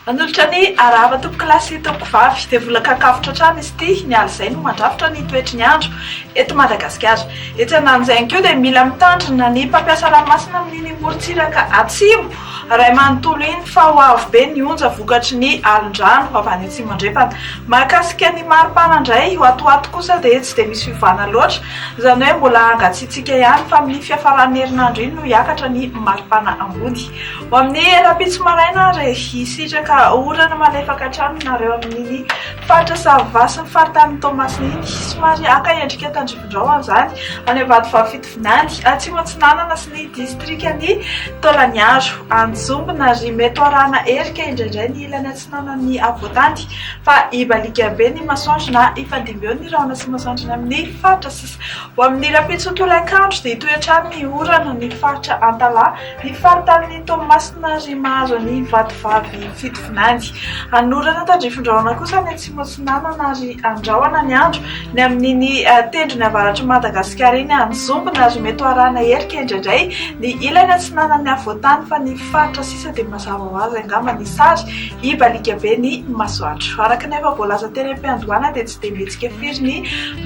Manolotra ny arahaba tompokolahy tompokovavy dia vola kakafotra hatrany izy ity ny aly izay no mandrafitra ny toetry ny andro eto Madagasikara. Etsy andanin'izay ihany koa dia mila mitandrina ny mpampiasa ranomasina amin'iny morontsiraka atsimo. Ray manontolo iny fa ho avo be ny onja vokatry ny alin-drano avy any atsimo andrefana. Mahakasika ny maripana indray, io ato ho ato kosa dia tsy dia misy fiovana loatra, izany hoe mbola hangatsiatsiaka ihany fa amin'ny fiafaran'ny herinandro iny no hiakatra ny maripana ambony. Ho amin'ny rahampitso maraina ary, hisitraka orana malefaka hatrany nareo amin'iny faritra Sahava sy ny faritanin'i Toamasina iny. Somary haka endrika tandrifindrao izany any ambadovavy fitondrana. Nandry Atsimo Atsinanana sy ny distrikan'i Taolagnaro, Anjombo na Rimeto arahana erika indraindray ny ilany atsinanan'ny afovoan-tany fa i Balikabe ny masoandro na i Fandimbeo ny rahona sy masoandro any amin'ny faritra sisa. Ho amin'ny rahampitso tolakandro dia hitohy hatrany ny orana ny faritra Antalaha, ny faritanin'i Toamasina ary mahazo an'i Vatovavy Fitovinany. Hanorana tandrifindrahona kosa any atsimo. Soma Sonanana ary Andrahona ny andro ny amin'iny tendrony avaratr'i Madagasikara iny mizombona ary mety ho arahina herika indraindray ny ilany atsinanan'ny afovoan-tany fa ny faritra sisa dia mazava ho azy angamba ny sary hibaliaka be ny masoandro. Araka ny efa voalaza teny am-piandohana dia tsy dia mihetsika firy ny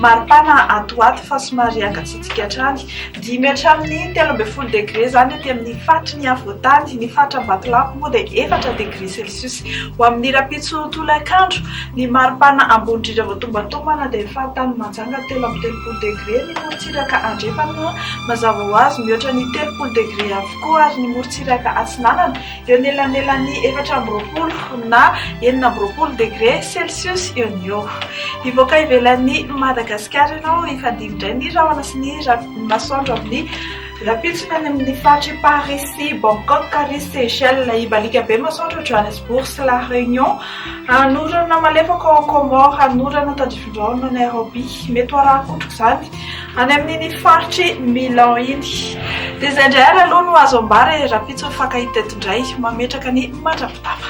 maripana ato ho ato fa somary hangatsiatsiaka Midika hatrany dimy hatramin'ny telo ambin'ny folo degre izany aty amin'ny faritry ny afovoan-tany. Ny faritra Ambatolampy moa dia efatra degre celsius. Ho amin'ny rahampitso tolakandro, ny mari-pana ambony indrindra vao tombantombana dia ny faritany Mahajanga telo amby telopolo degre, ny morontsiraka andrefana mazava ho azy mihoatra ny telopolo degre avokoa ary ny morontsiraka atsinanana, Eo anelanelan'ny efatra amby roapolo na enina amby roapolo degre celsius eo no eo. Hivoaka ivelan'i Madagasikara ianao hifandihy indray ny rahona sy ny masoandro amin'ny rahampitso any amin'ny faritr'i Paris sy Bangkok ary Seychelles. Hibaliaka be ny masoandro ao Johannesburg sy La Réunion. Hanorana malefaka ao Comores, hanorana tadifindrao any Nairobi. Mety ho arahan-kotrok'izany. Any amin'iny faritr'i Milan iny. Dia izay indray ary aloha no azo ambara e, rahampitso ny fankahita teto indray. Mametraka ny mandra-pitàfa.